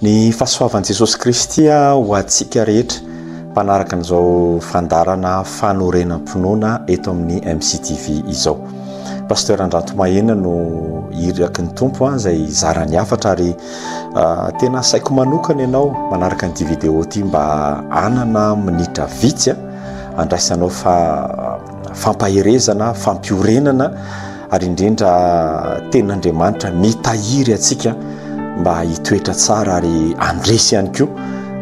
Ny fahasoavan'i Jesosy Kristy ho antsika rehetra mpanaraka an'izao fandaharana fanorenam-pinoana eto amin'ny MCTV izao. Pasteur Andranto Mahena no iraky ny Tompo an, izay zara ny hafatra ary ah, tena asaiko manokana ianao manaraka an'ity vidéo ity mba hanana minitra vitsy an, andraisanao fa fampaherezana, fampiorenana ary indrindra tenin'Andriamanitra mitahiry antsika mba hitoetra tsara ary handresy ihany koa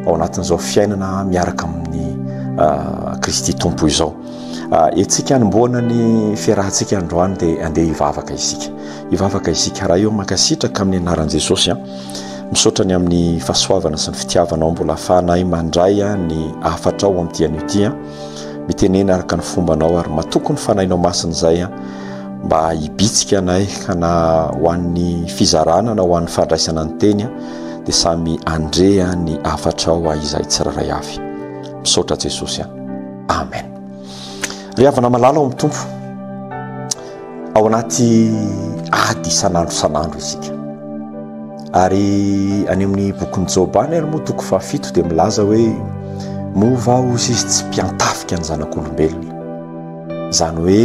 ao anatin'izao fiainana miaraka amin'ny ah, Kristy Tompo izao. Ah, etsika anombohana ny fiarahantsika androany dia andeha hivavaka isika. Hivavaka isika raha eo mankasitraka amin'ny anaran'i Jesosy. Ah. Misaotra ny amin'ny fahasoavana sy ny fitiavanao mbola afahanay mandray ny hafatrao amin'ny dian'io tia. mitenena araka ny fombanao ary matoky ny fanahinao masina izay an mba hibitsika anay ka na ho an'ny fizarana na ho an'ny fandraisana ny teny dia samy andreha ny afatrao a izay tsiraray avy misaotra jesosy an amen ry havana malala ao amin'ny tompo Ao anaty ady isan'andro isan'andro isika. Ary any amin'ny bokin'i Joba any ary moa toko fahafito dia milaza hoe moa va osy izy tsy mpiantafika ny zanak'olombelona. Izany hoe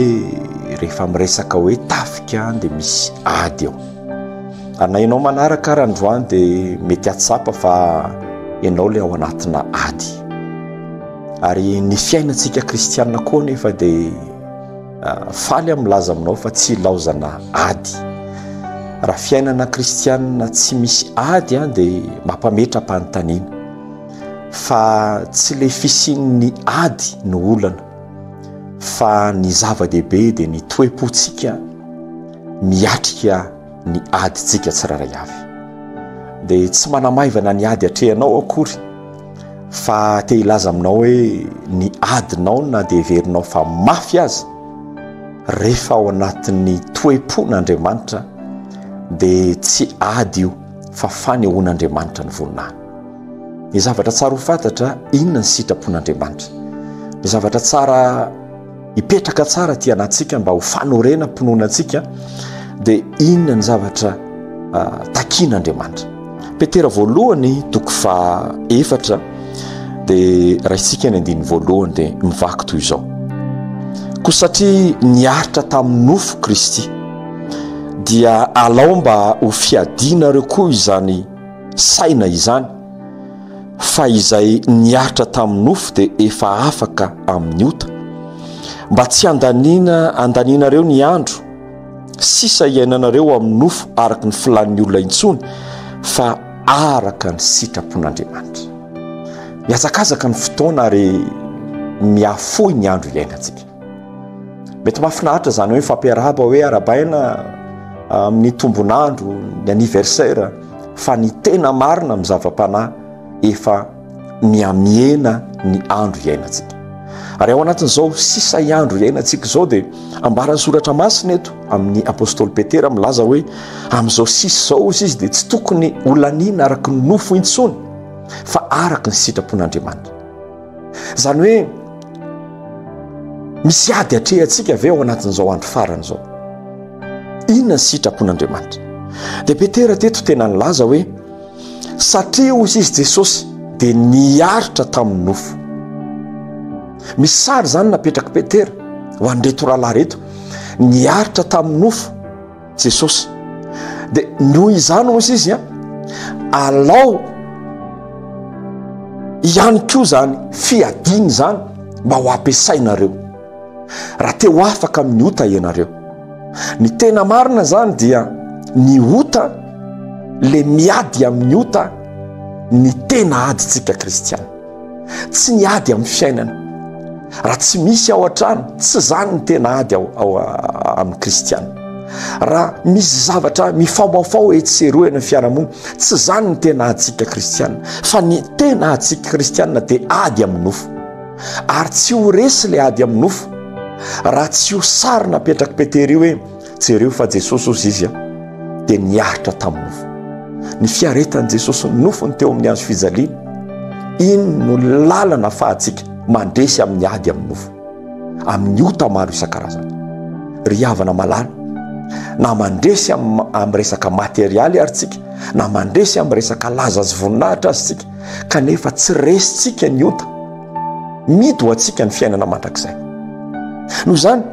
rehefa miresaka hoe tafika dia misy ady eo. Ary na ianao manaraka ary androany dia mety hatsapa fa ianao ilay ao anatina ady. Ary ny fiainantsika kristianina koa nefa dia Faly aho milaza aminao fa tsy ilaozana ady. Raha fiainana kristianina tsy misy ady an dia mampametra-panontaniana. Fa tsy le fisian'ny ady no olana. Fa ny zava-dehibe dia ny toe-potsika miatrika ny adintsika tsirairay avy. Dia tsy manamaivana ny ady atrehanao akory fa te hilaza aminao hoe ny adinao na dia heverinao fa mafy aza rehefa ao anatin'ny toe-pon'Andriamanitra dia tsy ady io fa fanehoan'Andriamanitra ny voninahiny. Ny zavatra tsara ho fantatra inona ny sitrapon'Andriamanitra. Ny zavatra tsara hipetraka tsara aty anatintsika mba ho fanorenam-pinoana antsika dia inona ny zavatra ah, takian'Andriamanitra. Petera voalohany toko fa efatra dia raintsika ny andininy voalohany dia mivaky toy izao. Koa satria niaritra tamin'ny nofo Kristy dia alao mba ho fiadianareo koa izany saina izany fa izay niaritra tamin'ny nofo dia efa afaka amin'ny ota. Mba tsy handaniana handanianareo ny andro sisa hiainanareo amin'ny nofo araka ny filan'ny olona intsony fa araka ny sitrapon'Andriamanitra. Mihazakazaka ny fotoana ary mihafoy ny andro iainantsika. mety mahafinaritra izany hoe fampiarahaba hoe arabaina ah, amin'ny tombonandro ny anniversaire fa ny tena marina amin'ny zava-panahy efa miamiena ny andro iainantsika ary ao anatin'izao sisa iandro iainantsika izao dia ambaran'ny soratra masina eto amin'ny apostoly petera milaza hoe amin'izao sisa izao izy izy dia tsy tokony olaniana araka ny nofo intsony fa araka ny sitrapon'andriamanitra Izany hoe misy ady atrehantsika ve ao anatin'izao andro farany izao? Inona ny sitrapon'Andriamanitra? Dia Petera teto tena nilaza hoe satria hoy izy Jesosy dia niaritra tamin'ny nofo. Misy sary izany napetrak'i Petera ho an'ireto rahalahy ireto, niaritra tamin'ny nofo. Jesosy. Dia noho izany hoy izy a, alao ihany koa izany fiadiana izany mba ho ampiasainareo raha te ho afaka amin'ny ota ianareo. Ny tena marina izany dia ny ota le miady amin'ny ota ny tena adintsika kristiana. tsy ny ady amin'ny fiainana raha tsy misy ao an-trano tsy izany ny tena ady ao ao amin'ny kristiana raha misy zavatra mifaomaofao etsy sy eroa eny amin'ny fiarahamonina tsy izany ny tena adintsika kristiana fa ny tena adintsika kristiana dia ady amin'ny nofo ary tsy ho resy ilay ady amin'ny nofo raha tsy ho sarina apetraky petera io hoe Jereo fa Jesosy ozy izy a, dia niaritra tamin'ny nofo. Ny fiaretan'i Jesosy ny nofony teo amin'ny hazo fijaliana, iny no lalana fahatsika mandresy amin'ny ady amin'ny nofo, amin'ny ota maro isan-karazany. Ry havana malala, na mandresy amin'ny resaka materialy ary tsika, na mandresy amin'ny resaka laza sy voninahitra azy tsika, kanefa tsy resintsika ny ota, mito ho antsika ny fiainana mandrakizay. Noho izany,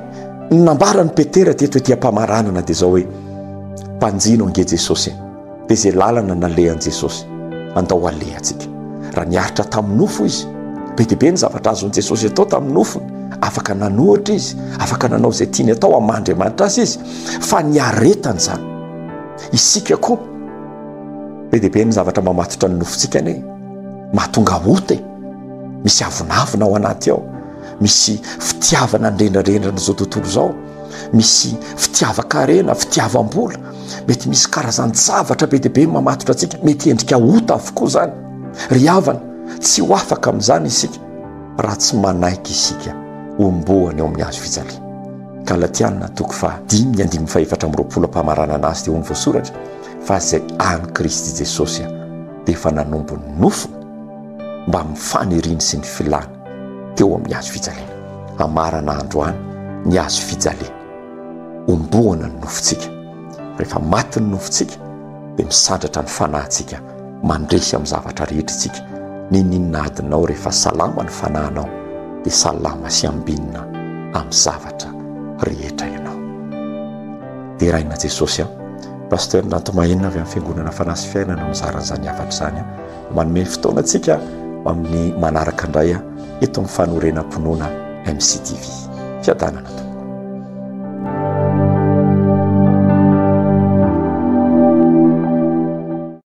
Ny nambaran'i Petera teto ety am-pamaranana dia izao hoe, Mpanjino ange Jesosy e! Dia izay lalana nalehan'i Jesosy, andao alehantsika. Raha niaritra tamin'ny nofo izy, be dia be ny zavatra azon'i Jesosy atao tamin'ny nofony, afaka nanohitra izy, afaka nanao izay tiany atao amin'ny maha Andriamanitra azy izy, fa niaretany izany. Isika koa, be dia be ny zavatra mamatotra ny nofontsika anie, mahatonga ota e! Misy avonavona ao anaty ao. misy fitiavana nrendrarendrana zao tontolo zao misy fitiavan-karena fitiavam-bola mety misy karazany zavatra be dia be mamatotra antsika mety endrika ota avokoa zany ry havana tsy ho afaka amin'izany isika raha tsy manaiky isika ombohany eo amin'ny azo fijali kalatianina toko fa dimy ny andimy fahefatra amroapolo ampamaranana azy dia ho ny voasoratra fa zay any kristy jesosy a dia efa nanombo ny nofo mba mifaniriny sy ny filana teo amin'ny hazo fijaliana. Amarana androany ny hazo fijaliana. Omboana ny nofontsika. Rehefa maty ny nofontsika dia misandratra ny fanahintsika mandresy amin'ny zavatra rehetra isika. N'inon'inona adinao rehefa salama ny fanahinao dia salama sy ambinina amin'ny zavatra rehetra ianao. Deraina Jesosy an. Pasteur Nantomainina avy amin'ny Fiangonana Fanahy sy Fiainana mizara an'izany hafatra izany. Manome fotoana antsika amin'ny manaraka indray eto amin'ny fanorenam-pinoana MCTV. Fiadanana tompoko.